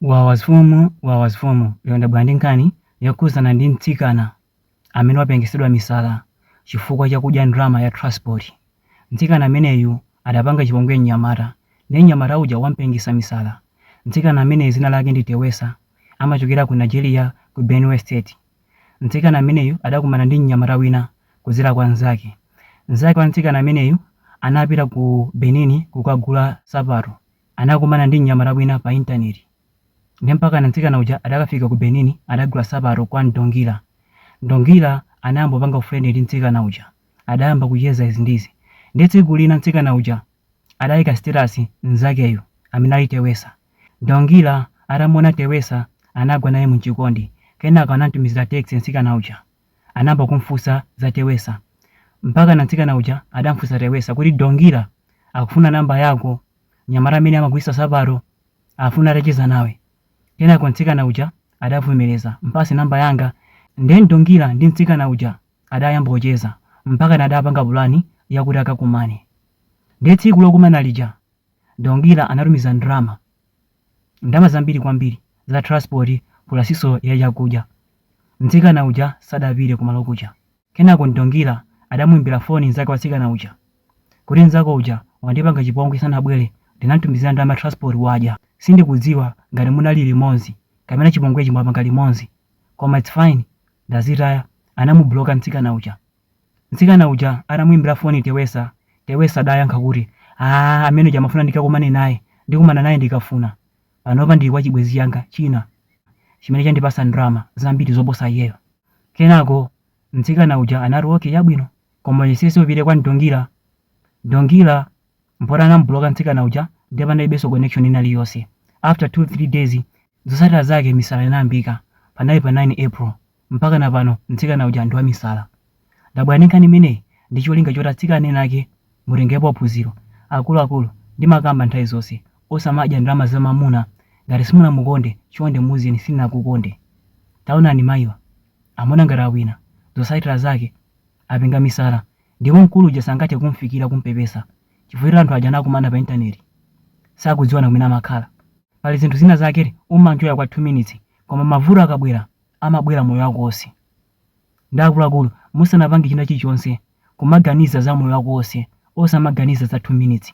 Wawa mfumu wawa mfumu lero ndabwera ndi nkhani yokhuzana ndi mtsikana amene wapengesedwa misala chifukwa chakudya ndalama ya transport. Mtsikana ameneyu adapanga chipongwe mnyamata nde mnyamata uja wampengesa misala. Mtsikana ameneyu zina lake ndi Tewesa amachokera ku Nigeria ku Benue state. Mtsikana ameneyu adakumana ndi mnyamata wina kudzera kwa mzake. Mzake wa mtsikana ameneyu anapita ku Benin kukagula sapato. anakumana ndi mnyamata wina pa internet nde mpakana mtsikana uja adakafika ku Benin adagula sapato kwa Ndongila. Ndongila anayamba kupanga ufrendi ndi mtsikana uja adayamba kucheza izi ndi izi nde tsiku lina mtsikana uja adaika status mzakeyu amene ali Tewesa. Ndongila atamuona Tewesa anagwa naye mchikondi kenako anamtumizila text mtsikana uja. anayamba kumfunsa za Tewesa. Mpakana mtsikana uja adamfunsa Tewesa kuti, Ndongila akufuna namba yako. Mnyamata amene amagulitsa nsapato akufuna atacheza nawe. Kenako mtsikana uja adavomereza, Mpatse namba yanga. Nde Ndongila ndi mtsikana uja adayamba kucheza mpakana adapanga pulani yakuti akakumane. Ndiye tsiku lokumana lija, Ndongila anatumiza ndalama. ndalama zambiri kwambiri za transport pulasinso ya chakudya. Mtsikana uja sadapite kumalo kuja. Kenako Ndongila adamuimbira foni mnzake wa mtsikana uja kuti, Mnzako uja wandipanga chipongwe sanabwere ndinamtumizira ndalama ya transport wadya. Sindikudziwa ngati munali limodzi kapena chipongwechi mwapanga limodzi koma its fine ndazitaya, anamubloka mtsikana uja. Mtsikana uja anamuimbira foni Tewesa, Tewesa adayankha kuti, Aaa amene uja amafuna ndikakumane naye, ndikumana naye ndikafuna. Panopa ndili kwa chibwenzi changa china chimene chandipatsa ndalama zambiri zoposa iyeyo. Kenako mtsikana uja anati, Okay, chabwino. Koma uyesetse upite kwa Ndongila. Ndongila mpoti anamubuloka mtsikana uja ndiye panalibenso connection ina iliyonse. After 2, 3 days, zotsatira zake misala inayambika. Panali pa 9 April. Mpakana pano mtsikana uja ndi wamisala. Ndabwera ndi nkhani imeneyi ndi cholinga choti atsikana ena ake mutengerepo phunziro. Akuluakulu, ndimakamba nthawi zonse, osamadya ndalama za mamuna. Ngati simunamukonde, chonde muuzeni sindinakukonde. Taonani mayiwa, amaona ngati awina. Zotsatira zake, apenga misala. Ndipo mkulu uja sangathe kumufikira kumupepesa chifukwa choti anthu aja anakumana pa intaneti. Sakudziwana kumene amakhala. Pali zinthu zina zake umanjoya kwa 2 minutes koma mavuto akabwera amabwera moyo wako wonse nde akuluakulu musanapange china chilichonse kumaganiza za moyo wako wonse osamaganiza za 2 minutes.